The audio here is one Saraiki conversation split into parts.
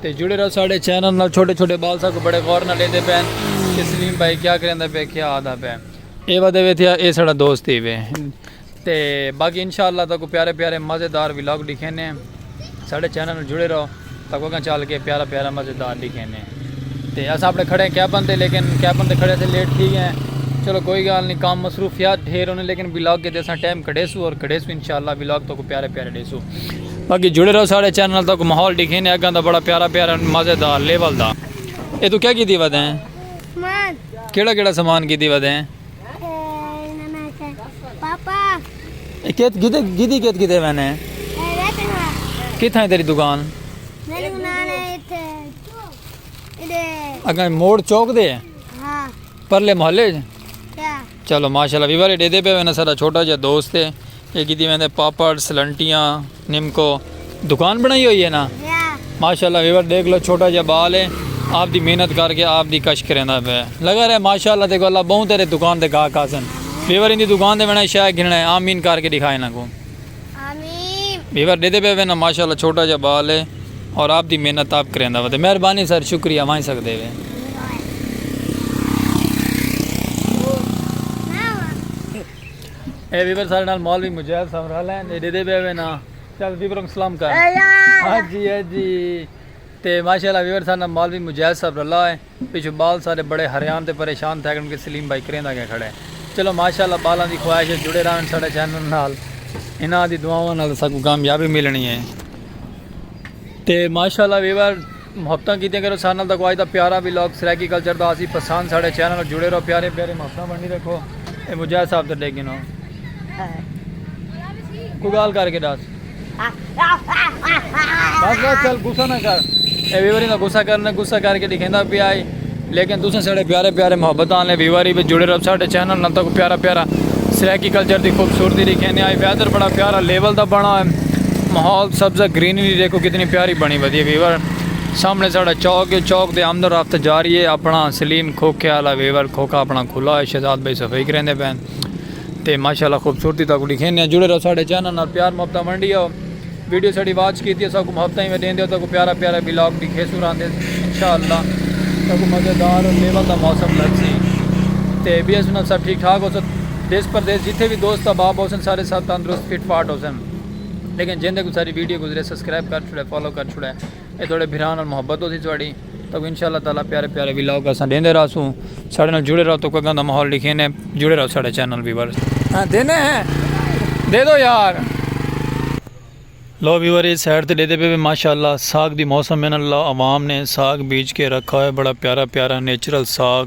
تے جڑے رہو ساڑے چینل نال چھوٹے چھوٹے بال ساکوں بڑے غور نال لیندے پین کہ سلیم بھائی کیا کریندا پے کیا آدا پے اے ودے وے تھیا اے ساڑا دوست ہی وے تے باقی انشاءاللہ تاکوں پیارے پیارے مزیدار ولاگ ڈکھینے ساڑے چینل نال جڑے رہو تاکوں اگاں چل کے پیارا پیارا مزیدار ڈکھینے تے اساں اپنے کھڑے کیپن تے لیکن کیپن تے کھڑے تھے لیٹ تھی گئے چلو کوئی گال نہیں کام مصروفیات ڈھیر ہونے لیکن ولاگ کے دے اساں ٹائم کڈے سو اور کڈے سو انشاءاللہ ولاگ تاکوں پیارے پیارے ڈے سو باقی جڑے رہو ساڑے چینل تک ماحول ڈکھے نے اگاں دا بڑا پیارا پیارا مزیدار لیول دا اے تو کیا کیتی ودے ہیں سمان کیڑا کیڑا سامان کیتی ودے ہیں پاپا اے کیت گدے گدی کیت کیتے وینے ہیں کتھاں ہے تیری دکان اگاں موڑ چوک دے ہیں پرلے محلے چلو ماشاءاللہ ویور اے ڈیدے پے وینا سارا چھوٹا جا دوست ہے اے کیتی ویندے پاپڑس لنٹیاں نمکو دکان بنائی ہوئی ہے نا ماشاءاللہ ویور دیکھ لو چھوٹا جا بال ہے آپ دی محنت کر کے آپ دی کش کریندا پے لگا رہے ماشاءاللہ تے کو اللہ بہوں تیرے دکان دے گاہ کاسن ویور ان دی دکان دے وینا شے گھننا ہے آمین کر کے دکھائے نا کو آمین ویور ڈیدے پے وے نا ماشاءاللہ چھوٹا جا بال ہے اور آپ دی محنت آپ کریندا وے مہربانی سر شکریہ وائیں سکدے وے اے ویور سارے نال مولوی مجاہد صاحب رل ہیں اے ڈیدے پے وے نا چل ویور کو سلام کر ہاں جی ہاں جی تے ماشاءاللہ ویور سارے نال مولوی مجاہد صاحب رلا ہے پچھوں ٻال سارے بڑے حریان تے پریشان تھیگن کہ سلیم بھائی کریندا کیوں کھڑے۔ چلو ماشاءاللہ ٻالاں دی خواہش اے جڑے راہون ساڈے چینل نال۔ انہاں دی دعاواں نال اساکوں کامیابی ملنی اے۔ تے ماشاءاللہ ویور محبتاں کیتیاں کرو ساڈے نال تاکوں اج دا پیارا ولاگ سرائیکی کلچر دا ہوسی پسند ساڈے چینل نال جڑے رہو پیاریاں پیاریاں محبتاں بنڑی رکھو۔ اے مجاہد صاحب تے ڈیکھ گھنو۔ کوئی گالھ کر کے ڈس۔ بس بس چل گسا نہ کر اے ویوری نہ گسا کر نہ گسا کر کے دکھیندا پیا ہے لیکن تساں ساڈے پیارے پیارے محبت والے ویوری وچ جڑے رہو ساڈے چینل نال تک پیارا پیارا سرائیکی کلچر دی خوبصورتی دکھیندے آئے ویدر بڑا پیارا لیول دا بنا ہے ماحول سبزہ گرینری دیکھو کتنی پیاری بنی ودی ہے ویور سامنے ساڈا چوک ہے چوک دے آمد و رفت جاری ہے اپنا سلیم کھوکھے والا ویور کھوکھا اپنا کھلا ہے شہزاد بھائی صفائی کریندے پین تے ماشاء اللہ خوبصورتی تاکو ڈکھینے ہیں جڑے رہو ساڑے چینل نال پیار محبتہ ونڈی ہو ویڈیو ساڑی واچ کیتی ہے ساکو محبتہ ہی میں دین دیو تاکو پیارا پیارا بلاگ ڈکھے سو رہاں دے انشاءاللہ تاکو مزیدار اور لیول دا موسم لگ سی تے بی ایس انہاں سب ٹھیک ٹھاک ہو سن دیس پر دیس جتے بھی دوست احباب ہو سن سارے سب تندرست فٹ فاٹ ہو سن لیکن جن دے کو ساری ویڈیو گزرے سسکرائب کر چھوڑے فالو کر چھوڑے اے تہاڈے بھرا نال محبت ہوسی تہاڈی تہاکوں انشاء اللہ تعالی پیارے پیارے ولاگ اساں ڈیندے رہسوں ساڈے نال جڑے رہو تہاکوں اگاں دا ماحول ڈکھینے جڑے رہو ساڈے چینل ویورز۔ ہاں دینے ہیں دے دو یار۔ لو ویور اے سائیڈ تے ڈیدے پے وے ماشاءاللہ ساگ دی موسم ہے نا اللہ عوام نے ساگ بیج کے رکھا ہوئے بڑا پیارا پیارا نیچرل ساگ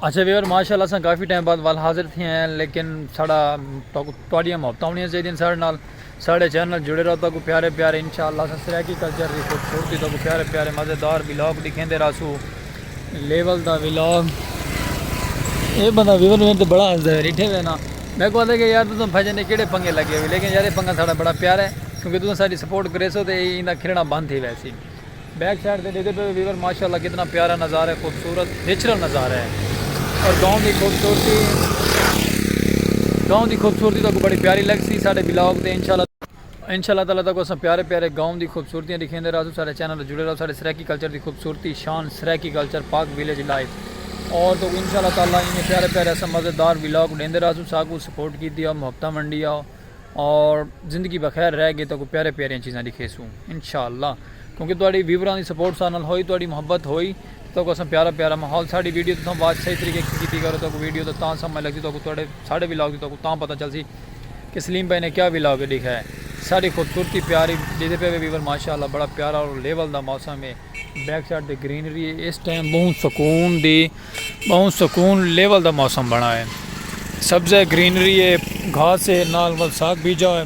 اچھا ویور ماشاءاللہ اساں کافی ٹائم بعد وال حاضر تھے ہیں لیکن ساڑا تواڈیاں محبتاں ہونیاں چاہیے ساڑے نال ساڑے چینل جڑے رہو تاکو پیارے پیارے انشاءاللہ اساں سرائیکی کلچر دی خوبصورتی تاکو پیارے پیارے مزیدار ولاگ دکھیندے رہسو لیول دا ولاگ اے بندہ ویور میں تے بڑا ہنسدا ہے ریٹھے وینا میں کو کہ یار تساں بھجن نے کیڑے پنگے لگے ہوئے لیکن یار اے پنگا ساڑا بڑا پیارا ہے کیونکہ تساں ساری سپورٹ کریسو تے ایندا کھلنا بند تھی ویسی بیک سائیڈ تے ڈیکھدے پئے ویور ماشاءاللہ کتنا پیارا نظارہ ہے خوبصورت نیچرل نظارہ ہے اور گاؤں دی خوبصورتی گاؤں دی خوبصورتی تاکو بڑی پیاری لگ سی ساڈے بلاگ تے انشاءاللہ انشاءاللہ تعالی تاکو اساں پیارے پیارے گاؤں دی خوبصورتیاں دکھیندے رہسوں ساڈے چینل جڑے رہو ساڈے سرائیکی کلچر دی خوبصورتی شان Saraiki culture Pak village life اور تاکو انشاءاللہ تعالی ایویں پیارے پیارے اساں مزیدار بلاگ ڈیندے رہسوں ساکو سپورٹ کیتی او محبتاں ونڈی او اور زندگی بخیر رہ گے تاکو پیارے پیاریاں چیزاں دکھے سوں انشاءاللہ کیونکہ تہاڈی ویوراں دی سپورٹ سارے نال ہوئی تہاڈی محبت ہوئی تاکو اساں پیارا پیارا ماحول ساڈی ویڈیو تساں واچ صحیح طریقے کی کیتی کرو تاکو ویڈیو دا تاں سمجھ لگ سی تاکو تہاڈے ساڈے ولاگ دی تاکو تاں پتہ چل سی کہ سلیم بھائی نے کیا ولاگ ڈیکھا ہے ساڈی خوبصورتی پیاری ڈیدے پے ویور ماشاءاللہ بڑا پیارا اور لیول دا موسم ہے بیک سائیڈ دی گرینری ہے اس ٹائم بہت سکون دی بہت سکون لیول دا موسم بنا ہے سبز ہے گرینری ہے گھاس ہے نال ول ساگ بیجا ہے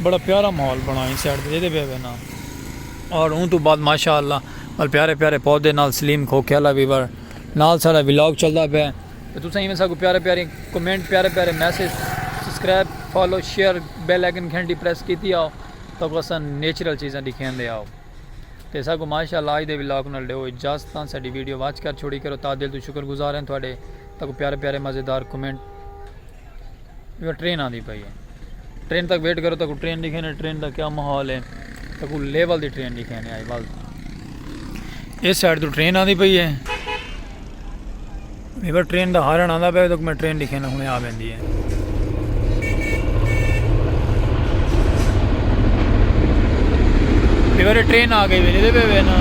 بڑا پیارا ماحول بنا ہے سائیڈ دے دے بے بے نا اور اون تو بعد ماشاءاللہ ول پیارے پیارے پودے نال سلیم کھو کھیلا بھی بر نال سارا ولاگ چلدا پے تو تساں ایویں ساکو پیارے پیارے کمنٹ پیارے پیارے message subscribe follow share bell icon گھنٹی پریس کیتی آؤ تو اساں نیچرل چیزاں دکھیندے آؤ تے اساں کوں ماشاء اللہ اج دے ولاگ نال ڈیو اجازت تاں ساڈی ویڈیو واچ کر چھوڑی کرو تاں دل توں شکر گزار ہیں تہاڈے تاکوں پیارے پیارے مزیدار کمنٹ ویو ٹرین آندی پئی ہے ٹرین تک ویٹ کرو تاکوں ٹرین دکھے نے ٹرین دا کیا ماحول ہے تاکوں لیول دی ٹرین دکھے نے آئی ول اس سائیڈ تو ٹرین آندی پئی ہے میکوں ٹرین دا ہارن آندا پیا تاں میں ٹرین ڈیکھینا ہنے آ ویندی ہے۔ میکوں تے ٹرین آ گئی ویندی پئی ہے نا۔